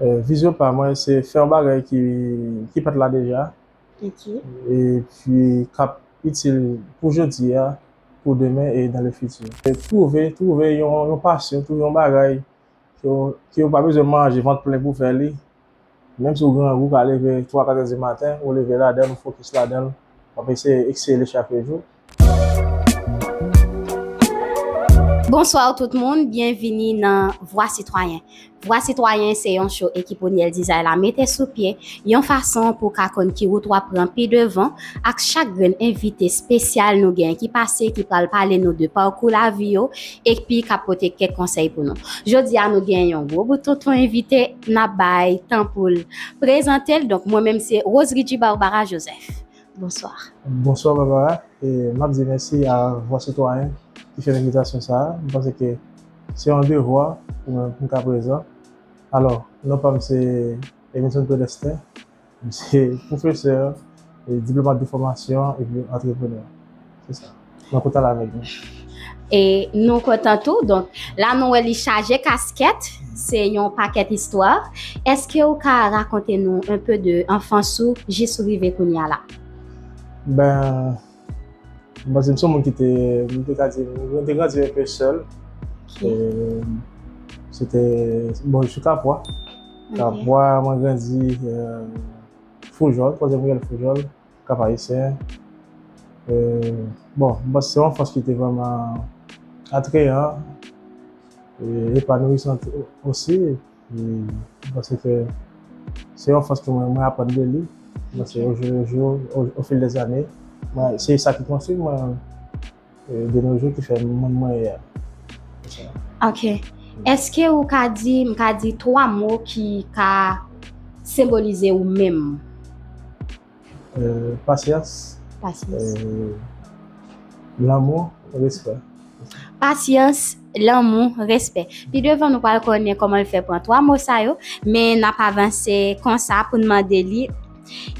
Vizyon pa mwen se fè yon bagay ki pat la deja e pi kap itil pou jodi a, pou demen e dan le fiti. Twouve, twouve yon pasyon, twouve yon bagay ke ou pa bezwen manje vant plen pou fè li, menm si ou grangou ou ka leve 3, 4 è di maten, ou leve ladan l, ou fokis ladan l, w ap eseye eksele chak jou. Bonsoir tout moun, byenvini nan Vwa Sitwayen. Vwa Sitwayen se yon show ekip Oniel Dizay la mete sou pye yon fason pou ka konn ki wout wap pran pi devan ak chak grenn envite spesyal nou gen ki pase ki pral pale nou de parkou lavi yo ekpi kap pote kèk konsèy pou nou. Jodi a nou gen yon gwo bout tonton envite nap bay tan poul prezantel donk mwen menm se Rose Ridjie Barbara Joseph. Bonsoir. Bonswa Barbara, map di mèsi a vwa sitwayen ki fè envitasyon sa a, m panse ke se yon devwa pou mwen pou m ka prezan. Alò, non pa m se Emerson Pelestin, m se pwofesè, diplomat de fòmasyon epi antreprenè. Se sa. Mwen kontan la avèk nou. E nou kontan tou. Donk, la nou wè li chaje kaskèt. Se yon pakèt istwa. Eske ou ka rakonte nou un peu de anfans ou jis ou rive kounye a la? Ben, mwen panse m se yon moun ki te, mwen te ka di, mwen te grandi un peu sèl. E se te, bon, je suis Capois. Capois, mwen grandi Foujòl, koze mwen rele Foujòl. Kap Ayisyen. E, bon, m panse se yon anfans ki te vrèman atreyan, e epanouisan osi. E, m panse ke se yon anfans ke mwen, mwen aprann de li. Mwen se o jou le jou, o fil de zane. Mwen, se sa ki konstwi mwen. De nos jours ki fè moun mwen ye a. Ok. Eske ou ka di, m ka di 3 mo ki ka senbolize ou menm? Pasyans. Pasyans. Lanmou, respè. Pasyans. Lanmou, respè. Pi devan nou pral konnen kòman l fè pran 3 mo sa yo, men n ap avanse konsa pou n mande li,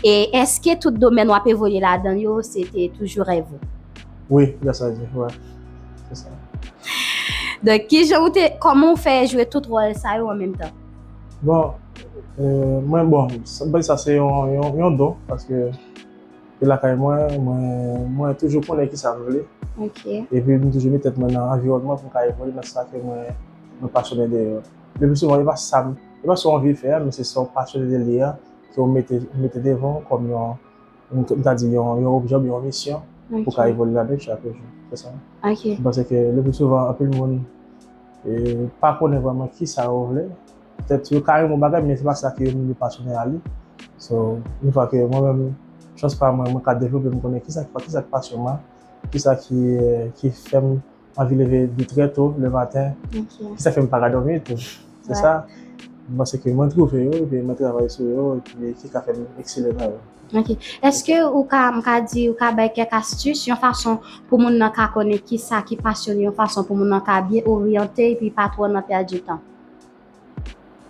E èske tout domèn w ap evolye ladan yo se te toujou rèv ou? Wi, dapre sa l di, wè. Se sa. Donk, ki jan ou te, kòman ou fè jwe tout wòl sa yo an menm tan? Bon, mwen bon, m pa di sa se yon don paske. E lakay mwen, mwen toujou konnen ki sa m vle. Ok. E pi m toujou met tèt mwen nan anviwònman pou m ka evolye nan sa ke mwen mwen pasyonnen de yo. Le pli souvan e pa sa m, e pa sa w anvi fè a men se sa w pasyonnen de li a ke w mete w mete devan w kòm yon m ta di yon yon objè oubyen yon misyon pou w ka evolye ladan l chak jou. Se sa. Ok. M panse ke le pli souvan anpil moun e pa konnen vrèman ki sa yo vle. Petèt yo ka renmen bagay men se pa sa ke yo menm pa sonnen ale. So, yon fwa ke mwen menm, chans pa mwen, mwen ka devlope, mwen konnen kisa ki sa ki pasyon mwen, kisa ki fè m anvi leve byen trè to le maten, kisa fè m pa ka dòmi tou. Se sa, mwen panse ke mwen twouve yo, epi mwen travay sou yo, epi ki ka fè m eksele nan yo. Ok. Eske ou ka, m ka di, ou ka bay kèk astis, yon fason pou moun nan ka konnen kisa ki pasyon li, yon fason pou moun nan ka byen oryante epi pa twò nan pèdi tan?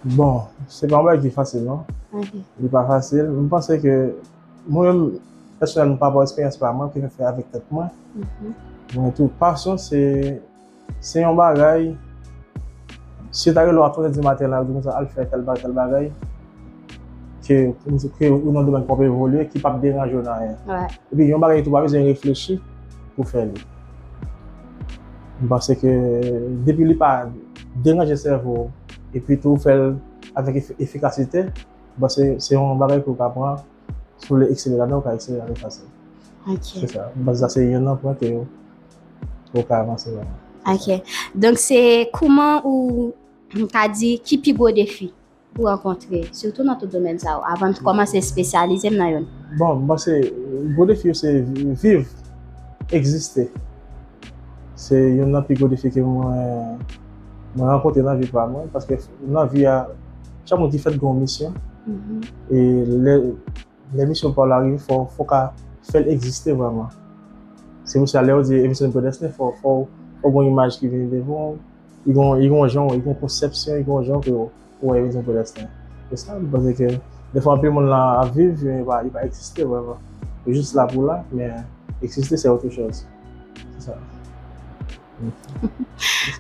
Bon, se pa yon bagay ki fasil non. Li pa fasil. Mwen panse ke mwen menm pèsonèlman pa rapò esperyans pa mwen ke mwen fè avèk tèt mwen. Mwen tou pasyon se se yon bagay si yo ta rele w a twa zè di maten la yo di w konsa al fè tèl bagay tèl bagay ke ou nan domèn ke w ap evolye ki pap deranje w nan anyen. Epi yon bagay tou ou pa bezwen reflechi pou w fè li. M panse ke depi li pa deranje sèvo w epi tou ou fè l avèk efikasite, m panse se yon bagay ke ou ka pran, si w vle eksele ladan, ou ka eksele ladan fasil. Ok. Se sa. M panse sa se youn nan pwen ke ou ka avanse ladan. Ok. Donk se kouman ou ka di ki pi gwo defi? pou rankontre, sitou nan tout domèn sa yo, avan n kòmanse espesyalize m nan youn? Bon, m panse gwo defi yo se viv, egziste. Se youn nan pi gwo defi ke mwen rankontre nan vi pa mwen, paske nan vi a, chak moun ki fèt gen yon misyon, e lè. Lè misyon paw la rive fòw fòw ka fèl egziste vrèman se pou sa lèw di emisyon predestine fòw fòw fòw gon imaj ki vini devanw li gon li gon janw li gon konsèpsyon li gon janw kew wè emisyon predestine se sa m panse ke defwa anpil moun la ap viv men li pa egziste vrèman yo jis la pou la men egziste se otre chòz se sa.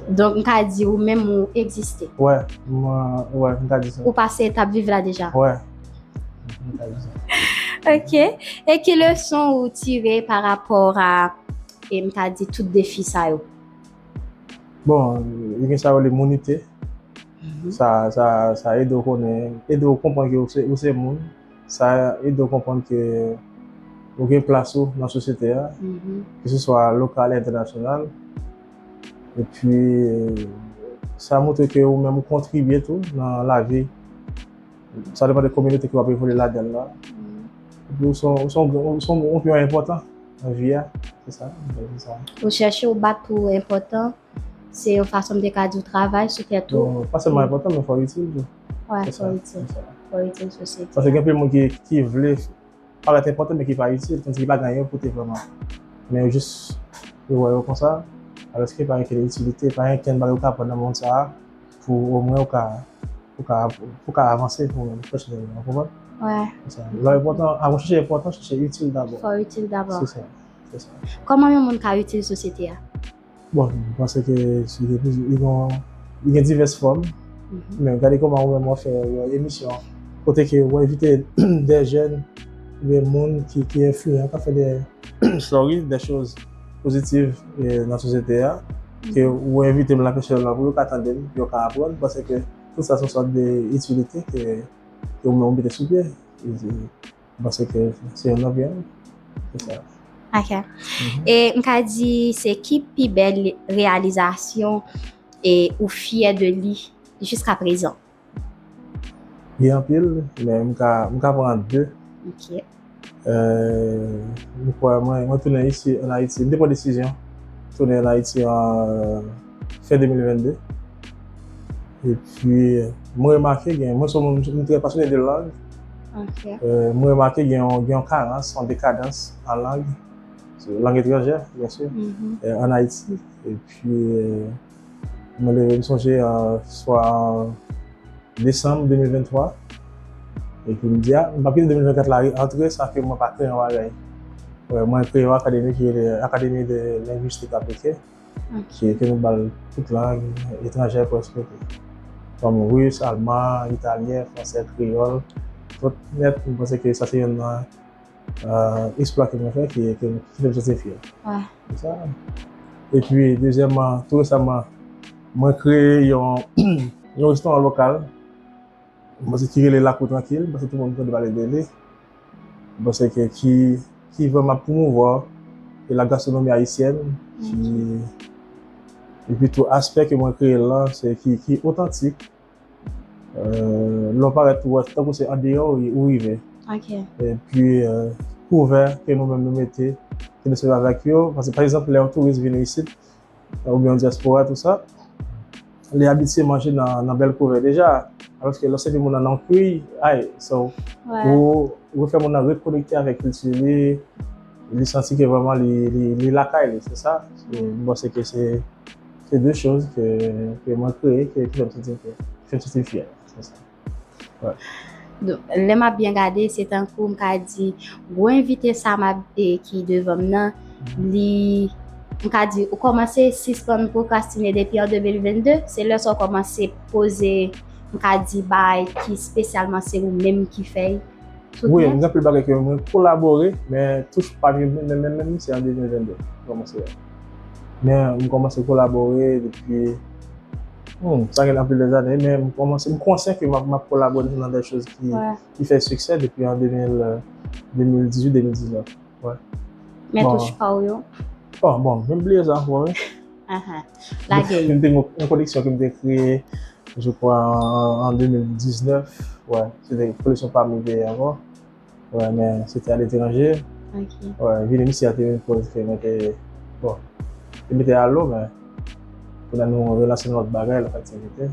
Donk m ka di ou menm ou egziste. Wè, wè, m ka di sa. Ou pase etap viv la deja. Wè, m ka di sa. Ok, e ki leson ou tire pa rapò a, e m ka di tout defi sa yo? Bon, li gen sa yo rele mounite. Sa ede ou konnen, ede ou konprann ke ou se moun. sa ede w konprann ke ou gen plas ou nan sosyete a, ke se swa lokal e entènasyonal. Epi, sa montre ke ou menm ou kontribye tou nan lavi, sa depan de kominote ke w ap evolye ladan l la. Epi ou son yon piyon enpòtan nan vi a. Se sa m ta di sa. Ou chèche ou bat pou ou enpòtan, se yon fason m te ka di w travay sou tèt ou. Pa sèlman enpòtan men fò w itil tou. Wè a fò itil. Fò itil sosyete a. Paske gen anpil moun ki vle parèt enpòtan men ki pa itil. Tandiske pa gen anyen yo pote vrèman. Men yo jis yo wè yo konsa. Alòske pa gen ankenn itilite. Pa gen ankenn bagay ou ka aprann nan mond sa a pou omwen ou ka pou ka avanse ou menm pèsonèlman. Ou konprann? Wè. Se sa. Lè w enpòtan, avan w chèche enpòtan, chèche itil dabò. Fò w itil dabò. Se sa. Se sa. Kòman yon moun ka itil sosyete a? Bon, mwen panse ke li gen plizyè, li gen, li gen divès fòm. Men gade kòman ou menm wap fè yon emisyon kote ke ou envite dè jèn oubyen moun ki ki enfliyan kap fè dè story, dè choz pozitiv nan sosyete a, ke ou envite m la pèsonèlman pou yo ka tande m, pou yo ka aprann. Mwen panse ke tout sa son sòt de itilite ke ou menm ou mete sou pye. Mwen panse ke se yon love yon. Se sa. Ok. E m ka di se ki pi bèl reyalizasyon e ou fyè de li jiska prezan? Gen anpil, men m ka pran 2. Ok. Mwen kwè mwen tounen isi an Ayiti, m te pran desizyon tounen an Ayiti an. Fen 2022. E pi, mwen remake gen, mwen son moun, mwen trè pasyone de lang. Ok. Mwen remake gen yon karans, yon dekadans an lang, lang etranjè, byen si, an Ayiti. E pi, mwen leve m sonje swa desanm 2023, e pi m di a, m pa kite 2024 la antre san ke mwen pa kreye yon bagay. Mwen kreye yon akademi ki rele Académie de linguistique appliquée. Ki ete nou ba l tout lang etranjè prèske tou. Kòm ris, alman, italyen, fransè, kreyòl. Tout nèt mwen panse ke sa se yonn nan esplwa ke mwen fè ki ete m fè m santi m fyè. Se sa. Epi dezyèman, tou resaman mwen kreye yon yon restoran lokal mwen panse ki rele Lakou Trankil. Mwen panse tout moun konn pale de li. Mwen panse ke ki ki vrèman ap pwomouvwa e la gastronomi ayisyèn ki epi tou aspè ke mwen kreye l lan se ki ki otantik lè w parèt ou wè tankou se andeyò ou rive epi kouvè ke nou menm nou mete ke nou sèvi avèk yo paske pa egzanp lè yon touris vini isit ou byen yon dyaspora tou sa, li abitye manje nan bèl kouvè deja, alòske lè w sèvi moun nan nan kwi, ay, so, ou fè moun nan rekonekte avèk kilti li, li santi ke vrèman li lakay li, se sa, m panse ke se de choz ke mwen kreye, ke fè m santi m fyè, fè m santi m fyè, se sa. Lè m ap byen gade, se tankou m ka di, gwo envite sa m ap e ki devan m nan, li, m ka di, ou kòmanse sispann pwokrastine depi an 2022, se lè sa ou kòmanse poze, m ka di, bagay ki spesyalman se ou menm ki fè yo. Wi, gen anpil bagay ke mwen kolabore, men touch pa m yo menm menm menm, se an 2022 m kòmanse yo. Men m kòmanse kolabore depi. Humm sa gen anpil de zane men m komanse m konsyen ke m ap kolabore nan de choz ki fè siksè depi an 2018, 2019 wè. Men touch pa w yo? Oh bon men m bliye sa ankò wi. Aha lage yo. M te gen yon koleksyon ke m te kreye je kwa an 2019 wè se te koleksyon pa m yo te ye ankò. Wè men se te aletranje. Ok. Wè vini misye a te yon koz ke mwen te bon. Te mete alo men pou nan nou relanse yon lòt bagay, lòt aktivite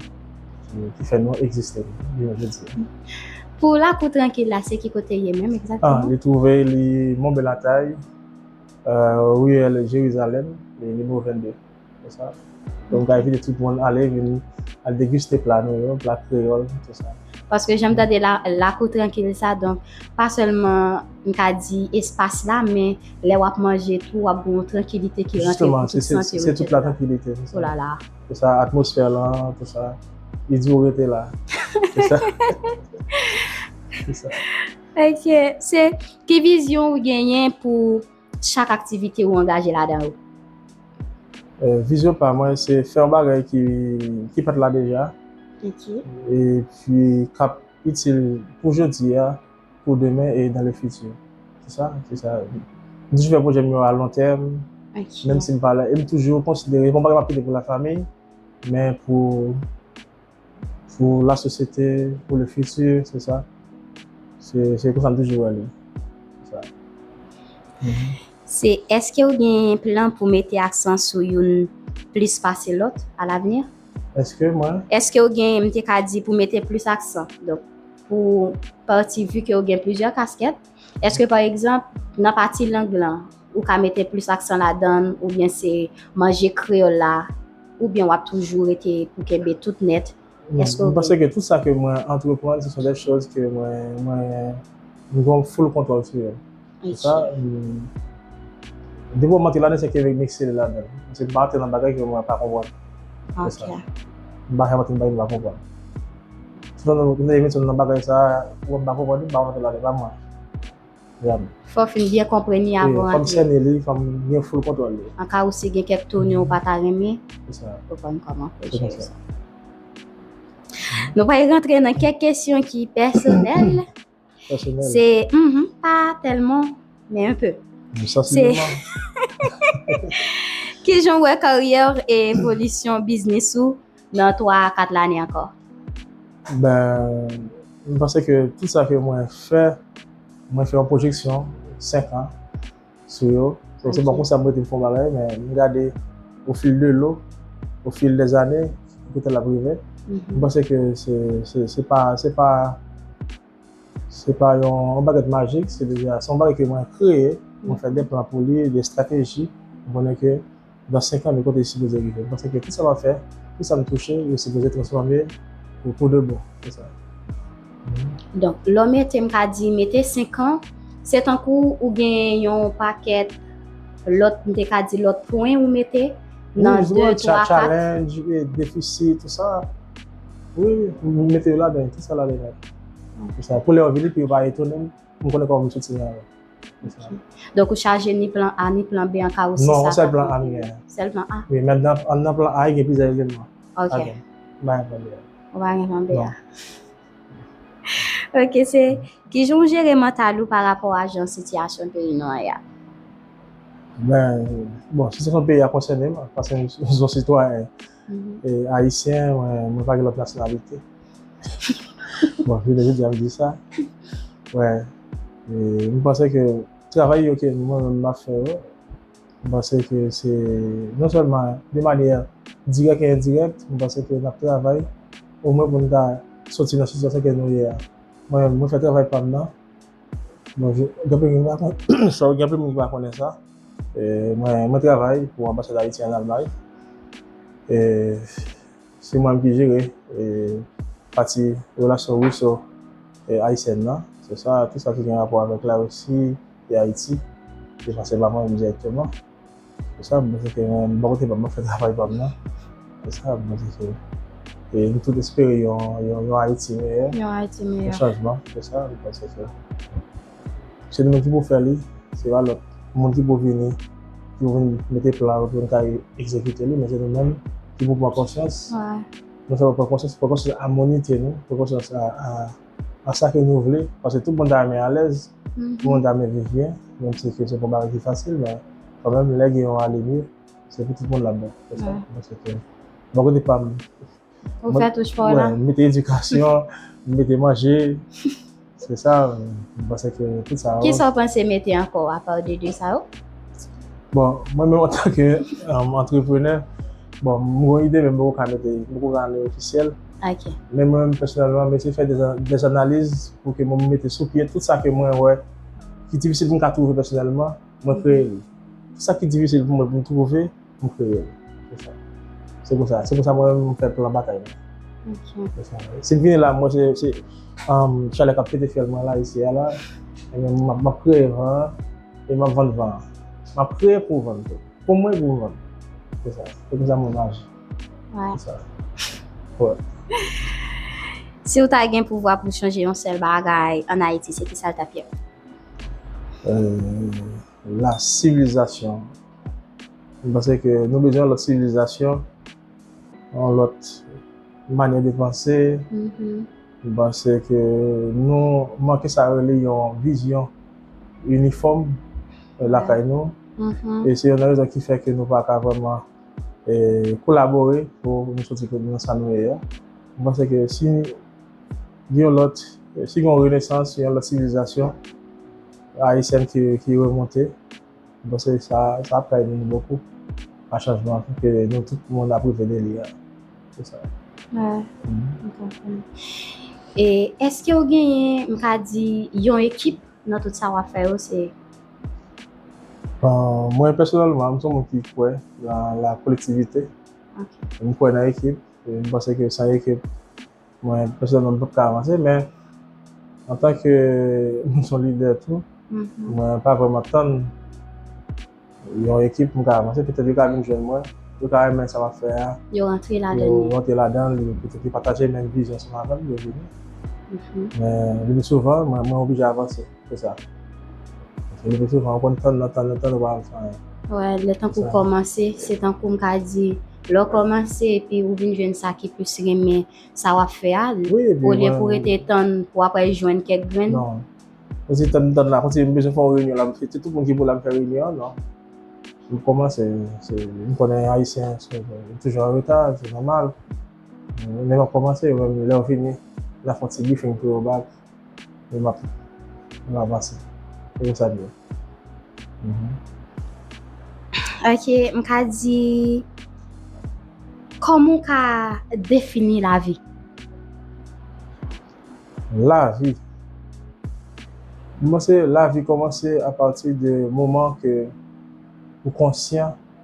ki fè nou egziste jounen jodi a. Pou lakou trankil la se ki kote ye menm egzakteman? Li twouve li Monbelatay, riyèl Jerizalèm, nimewo 22. Fè sa. Donk bgay vini tout moun ale vini al deguste pla nou yo, pla kreyòl tout sa. Paske jan m tande la, lakou trankil sa donk pa sèlman m ka di espas la men lè w ap manje tou w ap gen yon trankilite ki rantre pou tout santi w. Jisteman, se tout la trankilite. Olala. Se sa, atmosfè lan tout sa. Li di w rete la. Se sa. Se sa. Ok. Se ki vizyon ou genyen pou. chak aktivite ou angaje ladan yo? Vizyon pa mwen se fè yon bagay ki pat la deja e pi kap itil pou jodi a, pou demen e dan le fiti. Se sa, se sa. M toujou fè pwojè m yo a lon tèm, menm si m pa la e m toujou konsidere se pa yon bagay m ap kite pou la famiy men pou. Pou la sosyete, pou le fiti, se sa. Se konsa m toujou wè li. Se sa. Se èske ou gen plan pou mete aksan sou youn plis pase lòt a lavni? Èske mwen? Èske ou gen, m te ka di, pou mete plis aksan? Donk, pou pati, vi ke ou gen plizyè kaskèt, èske pa egzanp, nan pati lang lan, Ou ka mete plis aksan ladann oubyen se manje kreyòl la oubyen wap toujou rete pou kenbe tout nèt? Èske ou gen. M panse ke tout sa ke mwen antreprann se son dè chòz ke mwen gen full kontwòl sou yo. Pou sa, depi wap antre ladann se ke m eksele ladann. Paske m pa antre nan bagay ke mwen pa konprann. Pou sa. M pa janm antre nan bagay ke m pa konprann. Si m ta antre nan bagay sa a, ou wè m pa konprann li, m pa antre ladann, e pa mwen. Gad. Fè w fin byen konprann li avan w antre. Fò m sènen li, fò m gen full kontwòl li. Anka ou si gen kèk tone ou pa ta renmen. Se sa. Ou konn kòman pou jere sa. Se konsa. Nou pral rantre nan kèk kesyon ki pèsonèl. Pèsonèl? Se, mh, pa tèlman, men un peu. Sansibleman. Se, kijan w wè karyè w e evolisyon biznis ou? nan 3 a 4 lane ankò? Ben, m panse ke tout sa ke mwen fè, mwen fè yon pwojeksyon 5 an sou yo. Donk se pa konsa m rete m fè yon bagay, men m gade o fil de lo, o fil dè zane, ki kote l ap rive. M panse ke se pa, se pa. Se pa yon bagèt majik, se deja, se yon bagèt ke mwen kreye, mwen fè de plan pou li, de estrateji, mwen konnen ke dan 5 an de kote li sipoze rive. Mwen panse ke tout sa map fè, tout sa m touche, yo sipoze transfòme pou pou de bon. Se sa. Donk, lè w mete, m ka di mete 5 an, se tankou ou gen yon pakèt lòt, m te ka di lòt pwen ou mete nan 2, 3, 4. Challenge, defisit, tout sa. Wi wi pou m mete yo ladan tout sa la lè la. Pou sa pou lè yo vini pou yo pa etone m pou m konnen kòman pou m soti nan yo. Donk ou chaje ni plan A ni plan B an ka ou si sa. Non, sèl plan A m genyen. Sèl plan A. Wi, men nan plan A gen plizyè eleman. Ok. M pa gen plan B a. Ou pa gen plan B a. Ok, se ki jan ou jere mantal ou pa rapò a jan sitiyasyon peyi nou an ye a? Bon, sitiyasyon peyi a konsène m paske m son sitwayen. Ayisyen, mwen pa gen lòt nasyonalite. Bon, jounen jodi a m di sa. Wè, m panse ke travay yo ke mwen menm m ap fè yo, m panse ke se non sèlman de manyè dirèk e endirèk, m panse ke n ap travay omwen pou n ta soti nan sitiyasyon ke nou ye a. Mwen menm, mwen fè travay pa m nan. Mwen vin, gen anpil moun ki pa konnen, sorry, gen anpil moun ki pa konnen sa. E, mwen, mwen travay pou anbasad Ayiti an Almay. E, se mwen menm ki jere, e, pati relasyon Ruso e Ayisyèn nan. Se sa, tout sa ki gen rapò avèk Larisi e Ayiti, se pase pa mwen menm dirèkteman. Sa bon Dieu fè mwen bò kote pam map fè travay pam nan se sa bon Dieu fè e nou tout espere yon yon yon Haïti meyè yon Haïti meyè yon chanjman se sa bon Dieu fè se nou menm ki pou fè li se pa lòt moun ki pou vini ki pou vini mete plan yo pou nou ka egzekite li men se nou menm ki pou pran konsyans nou fè pran konsyans pran konsyans a mounite nou pran konsyans a a sa ke nou vle paske tout moun ta renmen alèz. Tout moun ta vle viv byen, menm si ke se pa yon bagay ki fasil men kanmenm lè gen yon ale mye se pou tout moun la bon. Se sa mwen panse ke bò kote pa m m mete edikasyon, m mete manje se sa m panse ke tout sa yo. Kisa w panse mete ankò apa de 2 sa yo? Bon mwen menm antanke antreprenè bon m gon ide men m poko ka mete m poko ka ale ofisyèl. Ok. Men mwen menm pèsonèlman, mwen eseye fè dè analiz pou ke mwen mete sou pye tout sa ke mwen wè ki difisil pou mwen ka twouve pèsonèlman, mwen kreye li. Tout sa ki difisil pou mwen pou mwen twouve, mwen kreye li. Se sa. Se kon sa. Se kon sa mwen menm mwen fè plan batay mwen. Ok. Se sa. Si m vini la, mwen se, se chalè k ap pete fyèl mwen la isi a la, e men m ap kreye van an, e m ap vann van an. M ap kreye pou vann tou. Pou mwen e pou m vann. Se sa. Se kon sa mwen aji. Si ou ta gen pouvwa pou chanje yon sèl bagay an Ayiti, se ki sa l t ap ye? La sivilizasyon. M panse ke nou bezwen yon lòt sivilizasyon, yon lòt manyè de panse. M panse ke nou manke sa yo rele yon vizyon inifòm lakay nou. E se yon nan rezon ki fè ke nou pa ka vrèman. kolabore pou nou soti nan sa nou ye ya. Mwen panse ke si gen yon lòt, si gen yon renesans, si gen yon lòt sivilizasyon ayisyèn ki remonte, mwen panse sa ap ka ede nou bokou a chanjman ke nou tout moun ap reve de li ya. Se sa. Wè, mwen konprann. E eske ou genyen, m ka di, yon ekip nan tout sa wap fè yo se? Mwen pèsonèlman, m son moun ki kwè nan la kolektivite. M kwè nan ekip. M panse ke san ekip, mwen pèsonèlman m pap ka avanse. Men, an tan ke m son lidè tou, mwen pa vreman tann yon ekip pou m ka avanse. Petèt yo ka vin jwenn mwen, yo ka renmen sa m ap fè a. Yo rantre ladan l. Yo rantre ladan l. Petèt yo pataje menm vizyon ansanm avè m, yo vini. Men, le pi souvan, mwen oblije avanse. Se sa. Paske lepi souvan ou konn tann nan tann nan tann ou pa janm fè anyen. Wè, lè tankou w kòmanse, se tankou m ka di, lè w kòmanse epi ou vin jwenn sa ki plis renmen sa w ap fè a, olye pou w rete tann pou apre jwenn kèk grenn. Non. Kontinye tann nan tann la, kontinye m bezwen fè yon reyinyon la, se tout moun ki pou la m fè reyinyon an, non. M kòmanse, se, m konnen Ayisyen nou toujou an reta, se nòmal. Men lè w kòmanse, yo menm lè yo vini, y ap fè yon ti brifing pou yo ba. E m ap avanse. Se konsa l ye. Ok, m ka di, kòman ou ka defini lavi? Lavi. M panse lavi kòmanse apati de moman ke ou konsyan.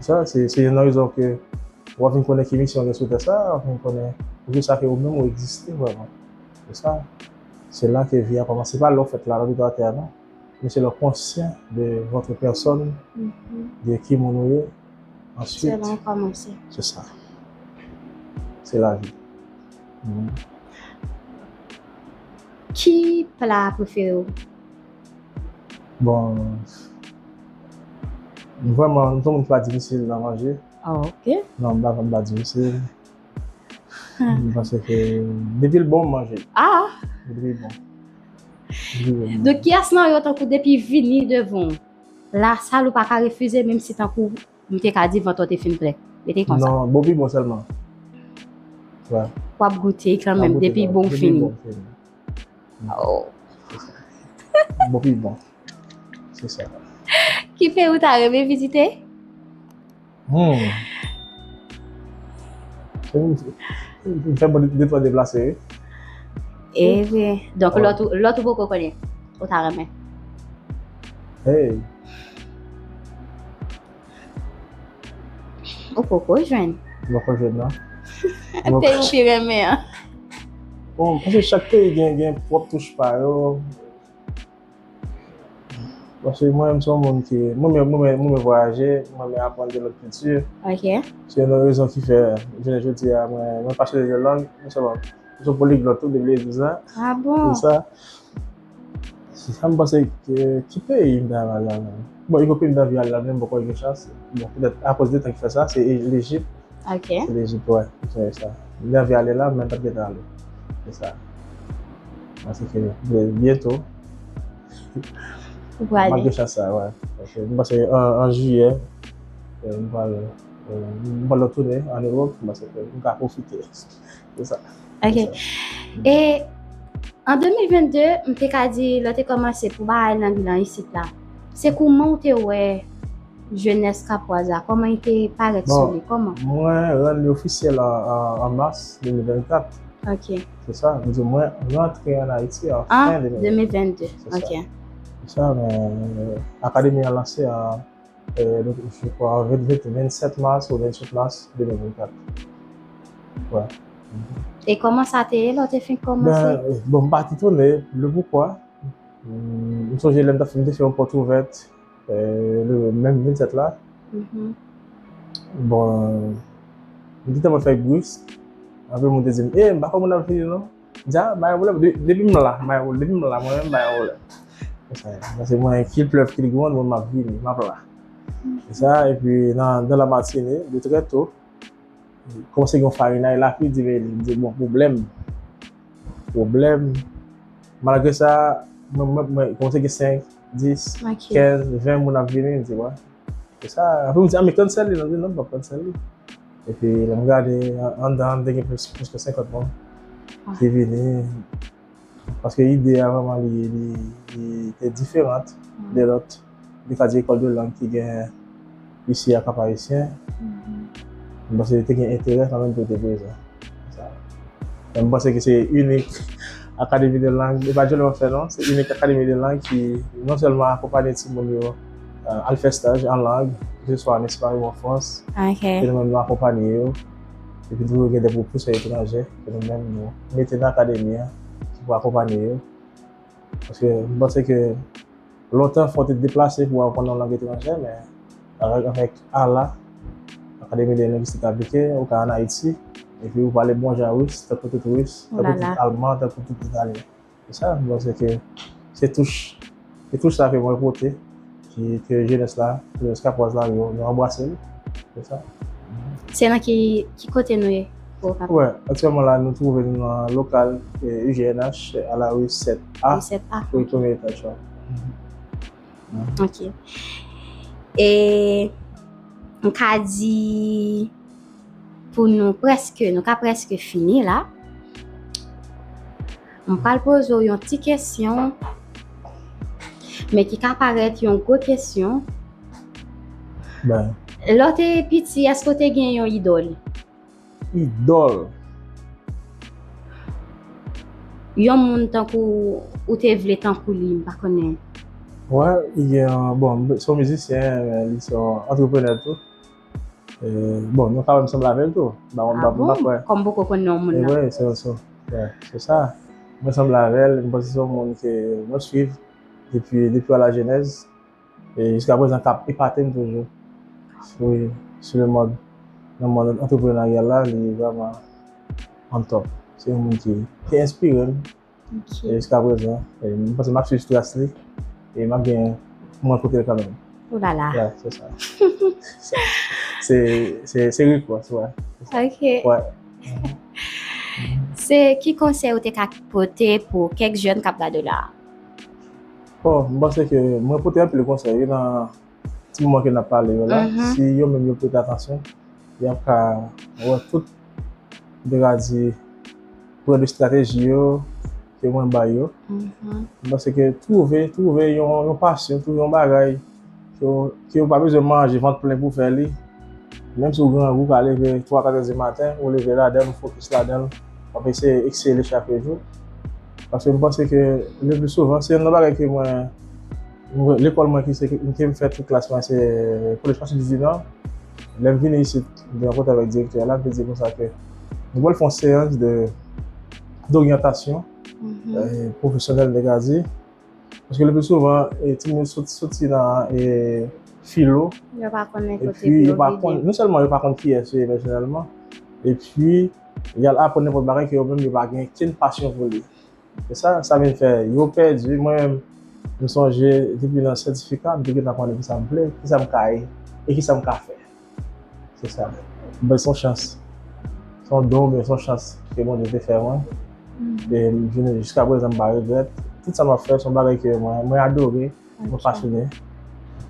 Sa, se, se youn nan rezon ke w ap vin konnen ki misyon w gen sou tè sa a, w ap vin konnen poukisa ke ou menm ou egziste vrèman. Se sa. Se la ke vi a kòmanse. Se pa lè w fèt la, lè w pito atè a non. Men se lè w konsyan de votre personne, de ki moun ou ye, ansuit. Se la w kòmanse. Se sa. Se lavi. Ki pla prefere w? Bon, m vrèman, m se yon moun ki pa difisil nan manje. Ah ok. Non, m pa vrèman m pa difisil. M panse ke depi l bon m manje l. Ah! Depi l bon. Donk kiyès nan yo tankou depi vini devan w la sal ou pa ka refize menm si tankou m te ka di vant ou te fin plen? Rete konsa. Non, bon pi bon sèlman. Wè. W ap goute kanmenm depi bon fini. Depi bon fini. Bon pi bon. Se sa. Ki peyi ou ta reme vizite? Hmm. Mwen fè mwen de twa deplase. E ve. Donk lòt ou poko konnen. Ou ta reme. Hey. Ou poko jwenn? Mwen poko jwenn non. Peyi ou pi renmen an? Bon, mwen panse chak peyi gen pwòp touch pa yo. Paske mwen menm se yon moun ki, mwen menm mwen renmen vwayaje, mwen renmen aprann de lòt kilti. Ok. Se yon nan rezon ki fè jounen jodi a mwen pasyonnen de lang, mwen se yon poliglòt tou depi lè di sa. Ah bon? Se sa. Sam panse ki peyi m ta renmen al la menm? Bon gen yon peyi m ta anvi al la men m poko gen chans. Bon petèt akoz de tan ki fè sa se Lejip. Ok. Se Lejip wè. M sonje sa. M te anvi ale la men m pat gentan ale. Se sa. Bon se fini. Men byento Ou pral ale. Map gen chans sa wè. M panse an Jiyè m pral m pral retounen an Ewop m panse ke m ka pwofite. Se sa. Ok. E an 2022, m te ka di lè te kòmanse pou bagay nan bilan isit la. Se kouman ou te wè jenès Kapwaz la? Kòman li te parèt sou li? Kòman? Bon, mwen rann li ofisyèl an mas 2024. Ok. Se sa. M di mwen rantre an Ayiti an fen 2022. An 2022. Ok. Se sa. Akademi an lanse an. Je kwa 27 mas ou 28 mas 2024. E koman sa te ye lò te fin komanse? Bon m pa ti tone, le pou kwa. M sonje lè m ta fin te fè yon pòt ouvèt le menm 27 la. Bon m te tèlman fè gouis, anpil moun te di m, e m pa kwè moun ap vini non. Dja bay yon pwoblèm, depi m la, bay yon pwoblèm, depi m la mwen menm bay yon pwoblèm. Se sa ye. Paske mwen kil plèv kil gronn mwen map vini, map la. Se sa, epi nan dan la matine, de trè to, kòmanse gen yon farinay, lapli di veye li, m di bon pwoblèm, pwoblèm, malgre sa, mwen mwen mwen kòmanse gen 5, 10, 15, 20 moun ap vini, m di wè. Se sa, apre m di a men kannsèl li, l di non m pap kannsèl li. Epi lè m gade anndan an te gen plis ke 50 moun ki vini paske ide a vreman li te diferant de lòt li ka di lekòl de lang ki gen isi a Kap Ayisyen m panse li te gen enterè kanmenm pou l te prezan men m panse ke se inik akademi de lang se pa jèn wap fè non se inik akademi de lang ki non sèlman akonpanye timoun yo euh, al fè staj an lang, ke swa an Espay ou an Frans, ke nou menm nou akonpanye yo, epi tou yo gen de pwopous fè etranje, ke nou menm nou mete nan akademi an, ki pou akonpanye yo. Paske mwen panse ke lontan fò te deplase pou apon nan lang etranje, men avèk avèk ala, akademi de lengwistik aplike, ou ka an Ayiti, epi ou pale bon jan wis, tankou tout wis, tankou tout alman, tankou tout italyen. Se sa m panse ke se touch, se touch sa ke mwen pote ki ke jenès la, jenès kapwaz la yo anbrase l. Se sa. Se nan ki, ki kote nou ye pou okap? Wè, aktyèlman la nou twouve nou nan lokal UGNH a la rue 7 A. Rue 7 A. Wi, premye etaj la. Ok. E m ka di pou nou prèske, nou ka prèske fini la. M pral poze w yon ti kesyon, men ki ka parèt yon gwo kesyon. Bay. Lè w te piti, èske w te gen yon idòl? Idòl? Yon moun tankou ou te vle tankou li, m pa konnen. Wè, gen yon, bon, se yon mizisyen, men li se yon antreprenè tou. Bon, nou ka wè m sanble avè l tou. A bon? Kòm m poko konnen moun nan. Ewen, se sa. Se sa. Mwen sanble avè l, m panse se yon moun ke mwen swiv depi depi alajenèz. E jiska prezan k ap epate m toujou. Wi, sou le mòd nan mòd antreprenaryal la, li vrèman on top. Se yon moun ki enspire m. E jiska prezan, m panse m ap swiv tras li e m ap gen pou mwen pote l kanmenm. Ou la la. Ya, se sa. Se ripòs, wè. Ok. Wè. Se ki konsèy ou te ka pote pou kèk jèn k ap gade w la a? Bon, m panse ke mwen pote anpil konsèy wi nan Ti moman ke nap pale yo la, si yo menm yo prete atansyon, yap ka wè tout, m te ka di, pwen de strateji yo ke mwen bay yo. M panse ke twouve, twouve yon pasyon, twouve yon bagay ke ou pa bezwen manje vant plen pou fè li, menm si ou grangou, ou ka leve 3, 4 è di maten, ou leve ladan l, ou fokis ladan l, wap eseye eksele chak jou. Paske m panse ke le pli souvan, se youn nan bagay ke mwen. Lekòl mwen ki se ke m fè tout klas mwen se Collège Francis Duvivian. Lè m vini isit, m te rankontre avèk direktè a la, m te di l konsa ke nou pral fè yon seyans de doryantasyon pwofesyonèl nèg a di. Paske le pli souvan timoun yo soti nan filo epi yo pa konn, non sèlman yo pa konn kiyès yo ye pèsonèlman epi y al aprann nenpòt bagay ke yo menm yo pa gen kenn pasyon pou li. E sa sa vin fè yo pèdi. Mwen menm, m sonje depi nan sètifika m te gentan konnen kisa m vle, kisa m ka ye e kisa m ka fè. Se sa. Bon se yon chans, se yon don oubyen se yon chans ke Bondye te fè mwen e m vini jiskaprezan m pa regrèt. Tout sa m ap fè se yon bagay ke mwen adore. Mwen pasyonnen,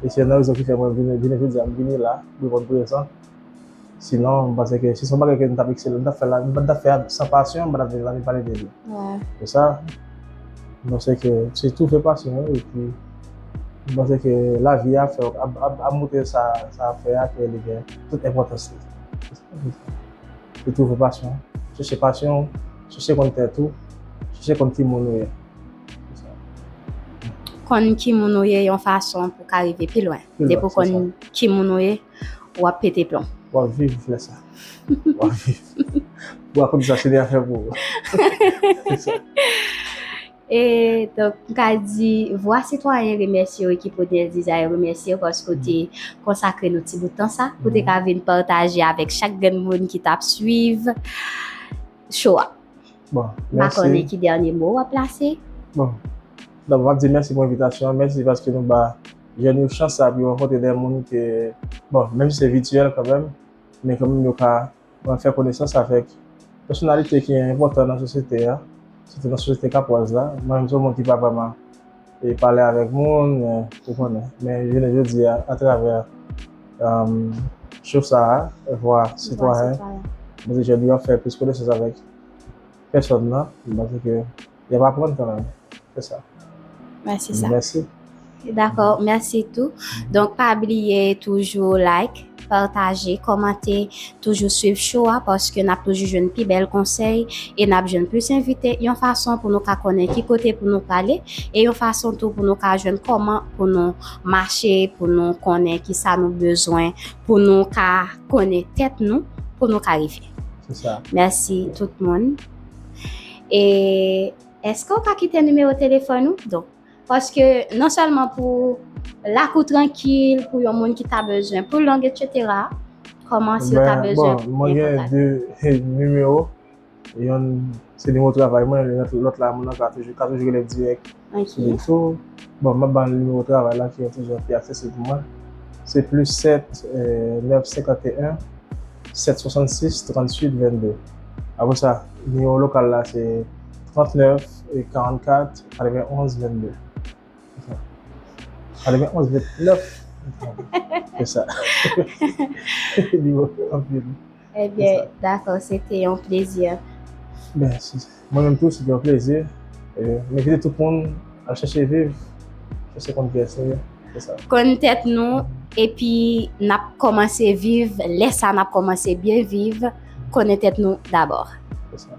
e se youn nan rezon ki fè mwen vini jounen jodi a, m vini la, reponn prezan. Sinon, m panse ke si se yon bagay ke m t ap eksele, m t ap fè la, m pa t ap fè a san pasyon, m pa t ap vini la vin pale de li. Pou sa, m panse ke se tou fè pasyon an, e pi m panse ke lavi a ap fè w, ap montre sa w ap fè a ke li gen tout enpòtans li. Se tou fè pasyon an. Chèche pasyon w, chèche konn tèt ou, chèche konn ki moun ou ye. Konn ki moun ou ye yon fason pou ka rive pi lwen. Pi lwen, Depi ou se konn sa. ki moun ou ye, wap pete plon. Wap viv lè sa. Wap viv. Ou a konn sa se de afè pou ou. Se sa. E donk m ka di Vwa Sitwayen remèsye w ekip Odel Desire remèsye w paske w te konsakre nou ti bout tan sa pou te ka vin pataje avèk chak grenn moun ki t ap suiv cho a. Bon, mèsi. M pa konnen ki dènye mo w ap plase. Bon. Donk, m ap di mèsi pou envitasyon an. Mèsi paske nou ba jèn yo chans sa a pou yo rankontre dè moun ke, bon, menm si se vityèl kanmenm, men kanmenm yo ka fè konesans avèk pèsonalite ki enpòtan nan sosyete a, sitou nan sosyete kapwaz la. Mwen menm se yon moun ki pa vrèman. e pale avèk moun men ou konnen men jounen jodi a atravè show sa a vwa sitwayen mwen te jwenn yo ap fè plis konesans avèk pèsòn nan mwen di ke y ap aprann kanmenm se sa mèsi sa mèsi dakò mèsi tou donk pa bliye toujou like. Pataje, kòmante, toujou swiv show a paske nap toujou jwenn pi bèl konsèy e nap jwenn plis envite yon fason pou nou ka konnen ki kote pou nou prale e yon fason tou pou nou ka jwenn kòman pou nou mache pou nou konnen kisa nou bezwen pou nou ka konnen tèt nou pou nou ka rive. Se sa. Mèsi tout moun. E eske ou ka kite nimewo telefòn ou? Donk. Paske non sèlman pou lakou trankil, pou yon moun ki ta bezwen pou long etc. Kòman si yo ta bezwen pou mwen gen de nimewo yon se nimewo travay mwen lòt la moun nan ka toujou ka toujou relem dirèk sou li tou bon map bann nimewo travay la ki yon ti jan pi aksesib pou mwen se plis 7 9 51 7 66 38 22 apresa nimewo lokal la se 39. E 44, 91, 22. Esa. 91, 29. Esa. Li wè anpil. E bè, dakò, se te yon plezi. Ben, si. Mwen menm tou, se te yon plezi. E, mwen vide tout moun al chèche viv, chèche konn kè se yo. Esa. Konn tèt nou, epi nap kòmanse viv, lè sa nap kòmanse byen viv, konnen tèt nou dabò. Esa.